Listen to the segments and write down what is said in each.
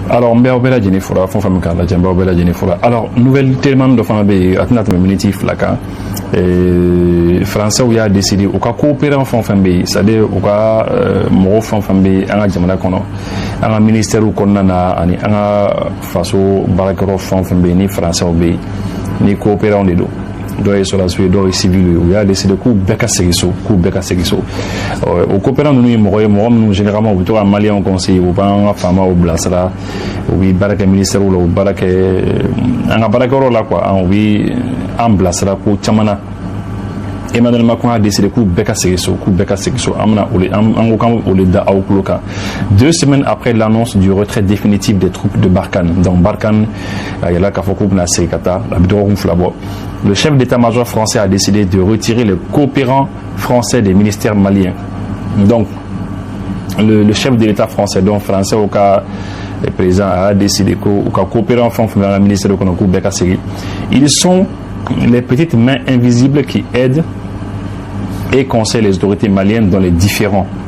Alors, n bɛ aw bɛɛ lajɛlen fo aw fɛn o fɛn bɛ k'an lajɛ n b'aw bɛɛ lajɛlen fo alors nouvelle telimani dɔ fana bɛ yen a tɛna tɛmɛ miniti fila kan faransɛw y'a décider u ka coopérant fɛn o fɛn bɛ yen c'est à dire u ka mɔgɔ fɛn o fɛn bɛ yen an ka jamana kɔnɔ an ka ministɛriw kɔnɔna na ani an ka faso baarakɛyɔrɔ fɛn o fɛn bɛ yen ni faransɛw bɛ yen ni coopérant de don dɔw ye sɔrɔlasiw ye dɔw ye sivili ye u y'a décider k'u bɛɛ ka segin so k'u bɛɛ ka segin so o coopérant ninnu ye mɔgɔw ye mɔgɔ minnu généralement u bɛ to ka maliyɛnw conseiller u b'an ka faamaw bilasira u bɛ baara kɛ ministère la u bɛ baara kɛ an ka baarakɛyɔrɔ la quoi u bɛ an bilasira ko caman na Emmanuel Macron a décidé k'u bɛɛ ka segin so k'u bɛɛ ka segin so an bɛna o de an ko k'an bɛ o de da aw tulo kan deux semaines après l'annonce du retrait définitif des troupes de Barkhane donc Barkhane a yirala k'a fɔ k'u bɛna segin ka taa a bɛ dɔgɔkun fila bɔ le chef de l'état-major français a décidé de retirer les coopérants français des ministères maliens donc le, le chef de l'état français donc faransɛw ka président a décidé ko u ka coopérant fɛn o fɛn bɛ an ka ministère kɔnɔ k'u bɛɛ ka segin ils sont les petites mains invisibles qui aident et conseillent les autorités maliennes dans les différents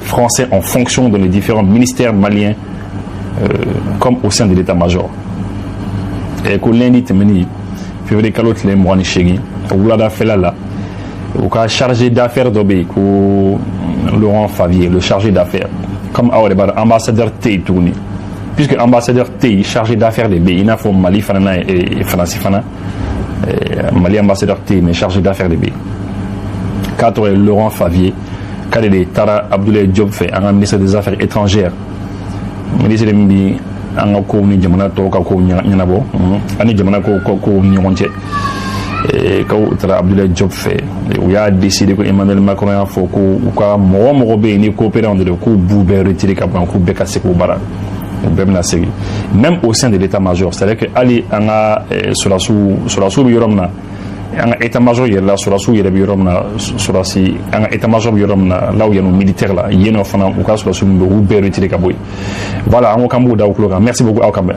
Français en fonction dans les différents ministères maliens euh, comme au sein de l'état-major. eh ko lundi tɛmɛnen février kalo tile mugan ni seegin wuladafɛla la u ka chargé d'affaires dɔ bɛ yen ko mm, Laurent Favier le chargé d'affaires comme aw yɛrɛ b'a dɔn ambassadeur tɛ yen tuguni puisque ambassadeur tɛ yen chargé d'affaires de bɛ yen i n'a fɔ Mali fana n'a ye eh, Faransi fana euh, mali ambassadeur tɛ yen mais chargé d'affaires de bɛ yen k'a tɔgɔ ye laurent favier k'ale de taara abdoulaye diop fɛ an ka ministre des affaires étrangères ministre min bi an ka kow ni jamana tɔw ka kow ɲɛnabɔ mhm. ani jamana kow ka kow ni ɲɔgɔn cɛ eh, k'a taara abdoulaye diop fɛ eh, u y'a décidé ko emmanuel macron y'a fɔ ko u ka mɔgɔ o mɔgɔ bɛ yen ni coopérant de don k'u b'u bɛɛ retirer ka bɔ k'u bɛɛ ka segin u bara u bɛɛ bɛna segin même au sein de l'état major c'est à dire que hali an ka eh, sɔrɔdasiw sɔrɔdasiw bɛ yɔrɔ min na an ka état major yɛrɛ la sɔrɔdasiw yɛrɛ bɛ yɔrɔ min na sɔrɔdasi an ka état major bɛ yɔrɔ min na là où il y a nos militaires là yen nɔ fana u ka sɔrɔdasiw bɛ yen u b'u bɛɛ retirer ka bɔ yen voilà an ko k'an b'o da aw tulo kan merci beaucoup aw k'an bɛn